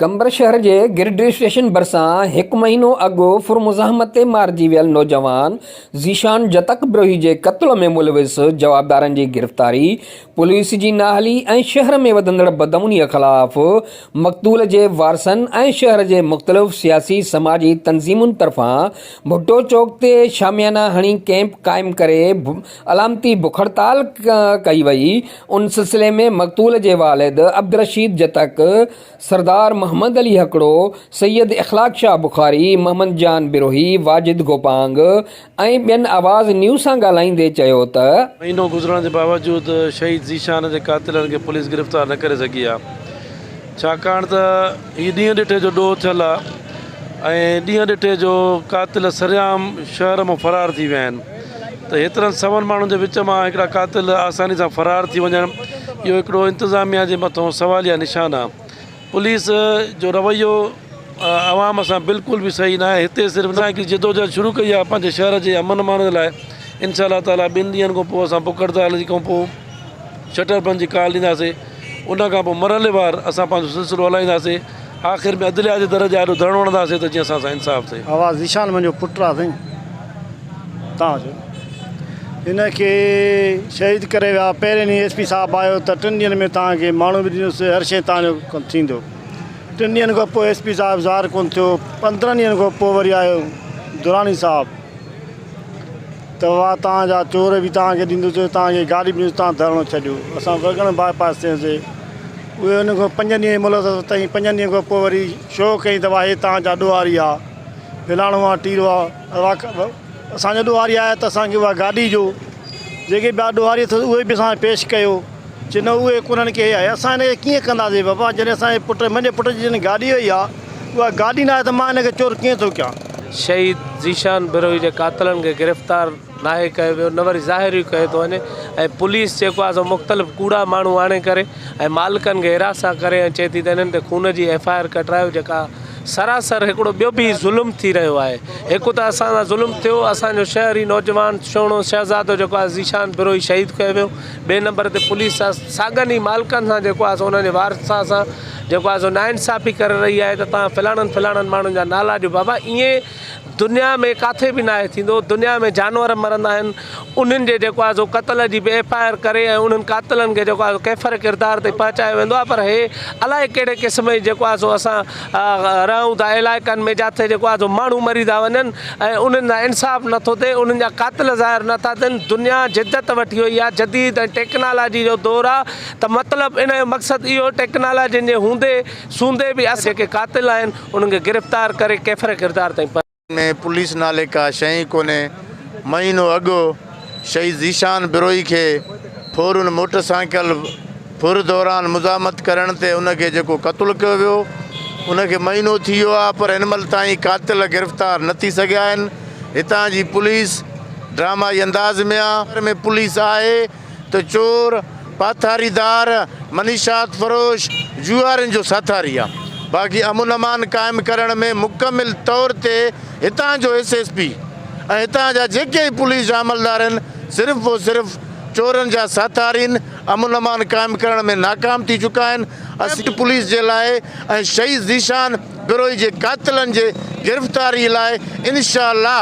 قمبر شهر جي grid station ڀرسان هڪ مهينو اڳ ڦر مزاحمت تي مارجي ويل نوجوان ذيشان جتڪ بروهي جي قتل ۾ ملوث جوابدارن جي گرفتاري، پوليس جي نااهلي ۽ شهر ۾ وڌندڙ بدامنيء خلاف مقتول جي وارثن ۽ شهر جي مختلف سياسي سماجي تنظيمن طرفان ڀٽو چوڪ تي شاميانا هڻي ڪيمپ قائم ڪري علامتي بک هڙتال ڪئي وئي، ان سلسلي ۾ مقتول جي والد عبدالرشيد جتڪ، سردار محمد علي هڪڙو، سيد اخلاق شاهه بخاري، محمد جان بروهي، واجد گوپانگ ۽ ٻين آواز نيوز سان ڳالهائيندي چيو ته. مهينو گذرڻ جي باوجود شهيد ذيشان جي قاتلن کي پوليس گرفتار نه ڪري سگهي آهي ڇاڪاڻ ته هي ڏينهن ڏٺي جو ڏوهه ٿيل آهي ۽ ڏينهن ڏٺي جو قاتل سرعام شهر مان فرار ٿي ويا آهن. ته هيترن سون ماڻهن جي وچ مان هڪڙا قاتل آساني سان فرار ٿي وڃڻ اهو هڪڙو انتظاميا جي مٿون سواليا نشان آ پوليس جو رويو عوام سان بلڪل به صحيح ناهي هتي صرف نه هڪ جدوجهد شروع ڪئي آ پنهنجي شهر جي امن امان جي لاء انشاء الله تعالي ٻن ڏينهن کان پوء اسان بک هڙتال جي کان پوء شٽر بند جي ڪال ڏينداسين ان کان پوء مرحلي وار اسان پنهنجو سلسلو هلائينداسين آخر ۾ عدليا جي در جي آڏو ڌڻ وڻنداسين ته جيئن اسان سان انصاف ٿئي. آواز ذيشان منهنجو پٽ آ سائين تان جو هن کي شهيد ڪري ويا پهرين ڏينهن ايس پي صاحب آيو ته ٽن ڏينهن ۾ تان کي ماڻهو به ڏنس هر شي تان جو ڪم ٿيندو ٽن ڏينهن کان پوء ايس پي صاحب ظاهر ڪون ٿيو پندرهن ڏينهن کان پوء وري آيو دراني صاحب ته وا تان جا چور به تان کي ڏيندس تان کي گاڏي به ڏيندس تان ڌرڻو ڇڏيو اسان وڳڻ باء پاس ٿياسي اهي ان کان پنج ڏينهن جي مهلت ورتائين. پنجن ڏينهن کان پوء وري شو ڪيائين ته واهي تان جا ڏوهاري آ، ڀلاڻو آ، ٽيرو آ، اسان جا ڏوهاري آيا ته اسان کي اها گاڏي جو جيڪي ٻيا ڏوهاري اٿس اهي به اسان کي پيش ڪيو، چي نه اهي ڪونهن ڪي آهي، اسان هن کي ڪيئن ڪنداسين بابا، جڏهن اسان جي پٽ، منهنجي پٽ جي جڏهن گاڏي هئي آ، اها گاڏي نه آهي ته مان هن کي چور ڪيئن ٿو ڪيان. شهيد ذيشان بروهي جي قاتلن کي گرفتار ناهي ڪيو ويو نه وري ظاهر ئي ڪيو ٿو وڃي ۽ پوليس جيڪو آهي سو مختلف ڪوڙا ماڻهو آڻي ڪري ۽ مالڪن کي هراسان ڪري ۽ چئي ٿي ته انهن تي خون جي ايف آء آر ڪٽرايو جيڪا سراسر هڪڙو ٻيو به ظلم ٿي رهيو آهي هڪ ته اسان سان ظلم ٿيو اسان جو شهر ئي نوجوان سهڻو شهزادو جيڪو آهي ذيشان بروهي شهيد ڪيو ويو ٻئي نمبر تي پوليس سان ساڳن ئي مالڪن سان جيڪو آهي سو انهن جي وارثا سان جيڪو آهي سو ناانصافي ڪري رهي آهي ته تان فلاڻن فلاڻن ماڻهن جا نالا ڏيو بابا ائين دنيا ۾ ڪاٿي به ناهي ٿيندو، دنيا ۾ جانور مرندا آهن انهن جي جيڪو آهي سو قتل جي به ايف آء آر ڪري ۽ انهن قاتلن کي جيڪو آهي سو ڪيفر ڪردار تائين پهچايو ويندو آهي پر هي الائي ڪهڙي قسم جي جيڪو آهي سو اسان رهون ٿا علائقن ۾ جاٿي جيڪو آهي سو ماڻهو مري ٿا وڃن ۽ انهن سان انصاف نٿو ٿئي انهن جا قاتل ظاهر نٿا ٿين دنيا جدت وٺي وئي آهي جديد ۽ ٽيڪنالاجي جو دور آهي ته مطلب ان جو مقصد اهو ٽيڪنالاجين جي هوندي سوندي به اسان جيڪي قاتل آهن انهن کي گرفتار ڪري ڪيفر ڪردار تائين پهچايو. ۾ پوليس نالي ڪا شئي ئي ڪونهي، مهينو اڳ شهيد ذيشان بروهي کي ڦورن موٽر سائيڪل ڦر دوران مزاحمت ڪرڻ تي ان کي جيڪو قتل ڪيو ويو ان کي مهينو ٿي ويو آهي پر هن مهل تائين قاتل گرفتار نه ٿي سگهيا آهن هتان جي پوليس ڊرامائي انداز ۾ آهي ۾ پوليس آهي ته چور، پاٿاري دار، منشيات فروش، جوئارين جو ساٿاري آ، باقي امن امان قائم ڪرڻ ۾ مڪمل طور تي هتان جو ايس ايس پي ۽ هتان جا جيڪي ئي پوليس جا عملدار آهن صرف و صرف چورن جا ساٿارين امن امان قائم ڪرڻ ۾ ناڪام ٿي چڪا آهن اسين پوليس جي لاء ۽ شهيد ذيشان گروهي جي قاتلن جي گرفتاري لاء انشاء الله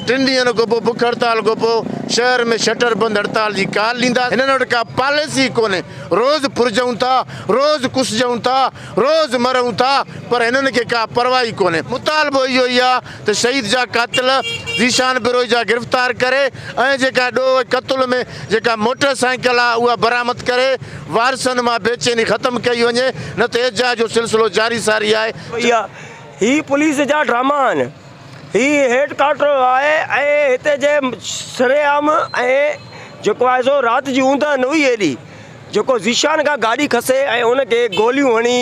ٽن ڏينهن کان پوء بک هڙتال کان پوء شهر ۾ شٽر بند هڙتال جي ڪال ڏينداسين، هنن وٽ ڪا پاليسي ئي ڪونهي، روز ڦرجون ٿا، روز ڪسجون ٿا، روز مرون ٿا پر هنن کي ڪا پرواهه ئي ڪونهي، مطالبو اهو ئي آهي ته شهيد جا قاتل ذيشان بروهي جا گرفتار ڪري ۽ جيڪا ڏوهه قتل ۾ جيڪا موٽر سائيڪل آهي اها برآمد ڪري وارثن مان بيچيني ختم ڪئي وڃي نه ته ايجاء جو سلسلو جاري ساري آهي. هي پوليس جا ڊراما آهن. هي هيڊ ڪارٽر آهي ۽ هتي جي سرعام ۽ جيڪو آهي سو رات جي اوندهه نه هئي هيڏي. جيڪو ذيشان کان گاڏي کسي ۽ هن کي گوليون هڻي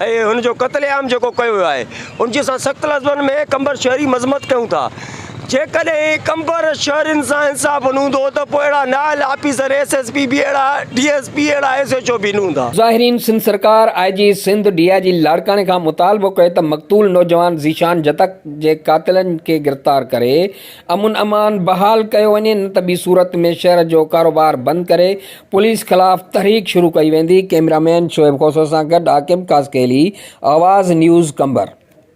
۽ هن جو قتل عام جيڪو ڪيو ويو آهي ان جي اسان سخت لفظن ۾ قمبر شهري مذمت ڪيون ٿا جيڪڏهن قمبر شهرين سان انصاف نه هوندو ته پوء اهڙا نااهل آفيسر ايس ايس پي به اهڙا ڊي ايس پي اهڙا ايس ايڇ او به نه هوندا. ظاهرين سنڌ سرڪار، آء جي سنڌ، ڊي آء جي لاڙڪاڻي کان مطالبو ڪيو ته مقتول نوجوان ذيشان جتڪ جي قاتلن کي گرفتار ڪري امن امان بحال ڪيو وڃي نه ته ٻي صورت ۾ شهر جو ڪاروبار بند ڪري پوليس خلاف تحريڪ شروع ڪئي ويندي ڪئميرا مين شعيب کوسو سان گڏ عاقب قاسقيلي آواز نيوز قمبر.